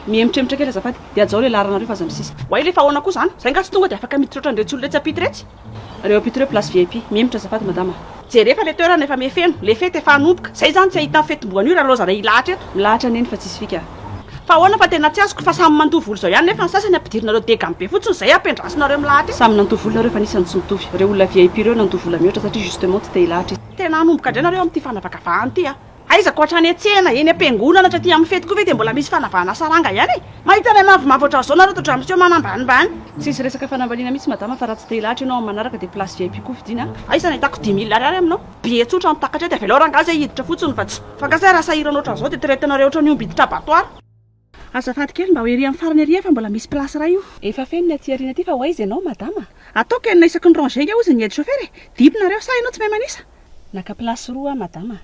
Mihemotrhemotra kely azafady dia ajao le laharanareo fa aza misisika. Oay le fa aona koa zany? Zay nga tsy tonga de afaka miditra otran retsy olona etsy ampita retsy? Reo ampita reo place vip. Mihemotra azafady madama a. Jerefa le toerana efa mihefeno, le fety efa hanomboka, zay zany tsy ahitany fetimboa anio ra loza ra hilahatra eto. Milahatra neny fa tsisy fika a. Fa ahoana fa tena tsy azoko fa samy mandoa vola izao ihany nefa ny sasany ampidirinareo degany be fotsiny izay ampiandrasinareo milahatra e. Samy nandoa vola nareo fa nisany tsy nitovy. Reo olona vip reo nandoa vola mihoatra satria justement tsy te hilahatra izy. Tena hanomboka indray nareo amin'ity fanavakavahana ity a! Aizako hatrany an-tsehana, eny am-piangonana hatry aty amin'ny fety koa ve dia mbola misy fanavahana saranga ihany e! Mahita anay mavomavo ohatran'izao nareo to Dramseo manambanimbany. Tsisy resaka fanambaniana mihitsy madama fa raha tsy te hilahatra ianao amin'ny manaraka dia place vip koa fidiana a! Aiza nahitako dimy mille ariary aminao? Be tsotra no takatray dia avelao rangahy zay hiditra fotsiny fa tsy. Fa nga zay raha sahirana ohatran'izao dia traite-nareo ohatran'ny omby hiditra abattoir. Azafady kely mba ho ery amin'ny farany ery fa mbola misy place iray io. Efa feno ny aty aoriana aty fa ho aiza ianao madama a? Ataoko enina isaky ny rangé nga ozy ny aide chauffeur e! Dimy nareo sa ianao tsy mahay manisa? Naka place roa aho madama a!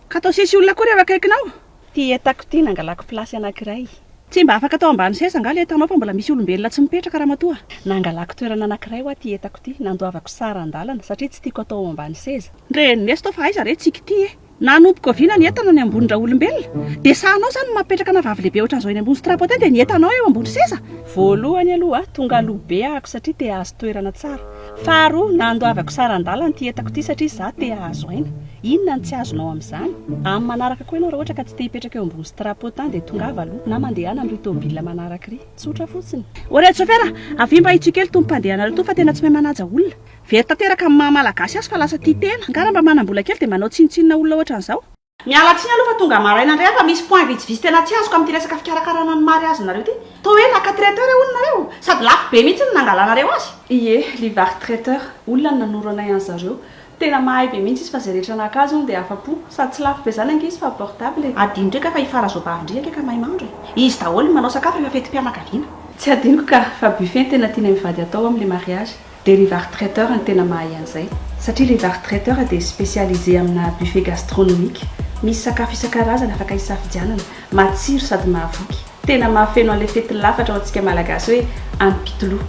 Ka atao sesy olona akory eo akaikinao! Ty entako ty nangalako place anankiray. Tsy mba afaka atao ambany seza nga le entanao fa mbola misy olombelona tsy mipetraka ramatoa? Nangalako toerana anankiray hoa ty entako ty, nandoavako sary an-dalana satria tsy tiako atao ao ambany seza. Ndre ndeso to fa aiza re tsiky ty eh! Nanomboka oviana ny entana ny ambony raolombelona? Dia sahanao zany ny maha petraka na vavy lehibe otran'izao eny ambony strapotin dia ny entanao eo ambony seza? Voalohany aloha tonga aloha be ahako satria te ahazo toerana tsara. Faharoa nandoavako saran-dalana ity entako ity satria za te ahazo aina. Inona ny tsy azonao amin'izany? Amin'ny manaraka koa ianao raha ohatra ka tsy te hipetraka eo ambony strapotin dia tongava aloha na mandehana amin'irỳ tomobilina manaraka irỳ. Tsotra fotsiny. Oread chauffeur a! Avia mba hitsoy kely itony mpandeha anareo itony fa tena tsy mahay manaja olona. Very tanteraka amin'ny maha Malagasy azy fa lasa tia tena. Angaha raha mba manam-bola kely dia mba hanao tsinontsinona olona ohatran'izao. Miala tsiny aloha fa tonga maraina indray aho fa misy point vitsivitsy tena tsy azoko amin'ity resaka fikarakarana ny mariazinareo ity. Toa hoe naka traiteur hono nareo. Sady lafo be mihitsy no nangalanareo azy. Ie, Livar traiteur, olona no nanoro anay anzareo. Tena mahay be mihitsy izy fa zay rehetra naka azy hono dia afa-po. Sady tsy lafo be zany ange izy fa portable e. Adinoko eka fa i Farazoabavindria eka ka mahay mahandro e. Izy daholo no manao sakafo rehefa fetim-pianakaviana. Tsy adinoko ka, fa buffet no tena tianay mivady hatao amin'ny le mariage. Dia le var traiteur no tena mahay an'izay. Satria le var traiteur dia specialisé amina buffet gastronomique. Misy sakafo isan-karazany afaka hisafidianana. Matsiro sady mahavoky. Tena mahafeno an'ilay fetin'ny lafatra ho antsika Malagasy hoe any Pitolou.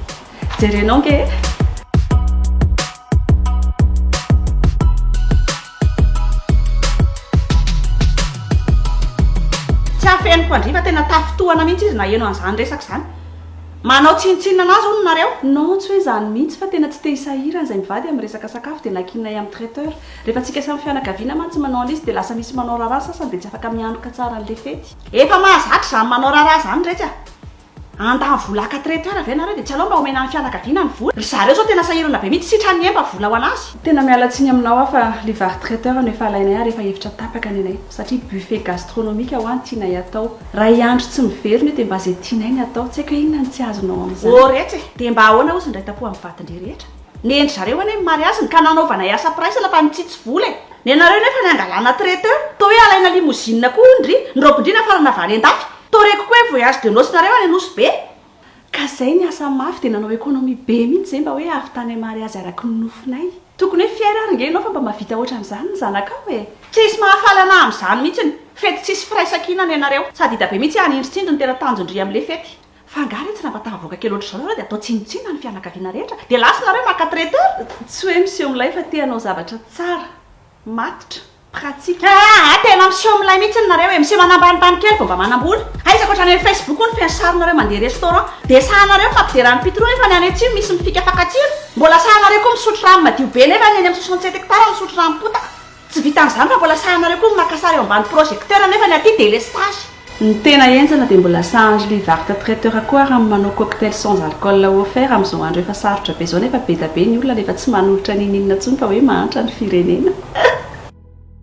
Jerenao ange e! Tsy afeniko handria fa tena tafintohana mihitsy izy naheno an'izany resaka izany. Manao tsinontsinona anazy hono nareo? Non tsy hoe izany mihitsy fa tena tsy te hisahirana izay mivady amin'ny resaka sakafo dia nankinay amin'ny traiteur. Rehefa antsika samy fianakaviana mantsy manao an'le izy dia lasa misy manao raharaha ny sasany dia tsy afaka mianoka tsara an'le fety. Efa mahazatra izany manao raharaha izany iretsy a! Handà vola haka traiteur ve nareo dia tsy aleo mba omena ny fianakaviana ny vola? Ry zareo izao tena sahirana be mihitsy sitrany ny emba vola ho anazy. Tena miala tsiny aminao aho fa le vary traiteur no efa alainay ary efa efitra tapaka ny anay satria buffet gastronomique ho'a ny tianay atao. Raha i Andry tsy miverina io dia mba izay tianay ny atao, tsy haiko hoe inona no tsy azonao amin'izany. Ô retsy e! Dia mba ahoana hozy ny iray tampo amin'ny vadin-dry rehetra? Nendry zareo anie ny mariazina ka nanaovanay asa mpiraisana fa nitsitsy vola e! Nenareo nefa ny hangalana traiteur, toa hoe alaina limousine koa hono ndry ny robin-dry nafarana vary an-dafy! Toa reko koa hoe voyage de noce-nareo any Anosibe! Ka zay ny asa mafy dia nanao economie be mihitsy zay mba hoe avy tany amary azy araky ny nofinay. Tokony hoe fier ary nge enao fa mba mavita otran'izany ny zanakao e! Tsisy mahafaly anah amzany mitsiny, fety tsisy firaisankina ny anareo, sady hita be mitsy ah ny indritsindry ny tena tanjondry amle fety. Fa nga re tsy raha mba tahavoaka kely otrzao nareo de atao tsinotsinona ny fianakaviana rehetra de lasa nareo maka traiteur? Tsy hoe miseho milay fa te hanao zavatra tsara, matotra. pratique. Haa tena miseho milay mihitsy nareo e, miseho manambanibany kely vao mba manambola. Aiza koa otrany hoe facebook hono feno sarinareo mandeha restaurant. Dia sahanareo ny fampiderany pitro efa ny any atsimo misy mifika fakan-tsira. Mbola sahanareo koa misotro rano madio be nefa ny eny amin'ny soixante sept hectares misotro rano potaka. Tsy vitan'izany fa mbola sahanareo koa ny maka sary eo ambany projecteur nefa ny aty délestage. Ny tena enjana dia mbola sahan'ny Julie Varte traiteur koa ary amin'ny manao cocktail sans alcool ou offert amin'izao andro efa sarotra be izao nefa be da be ny olona nefa tsy manolotra n'inon'inona intsony fa hoe mahantra ny firenena.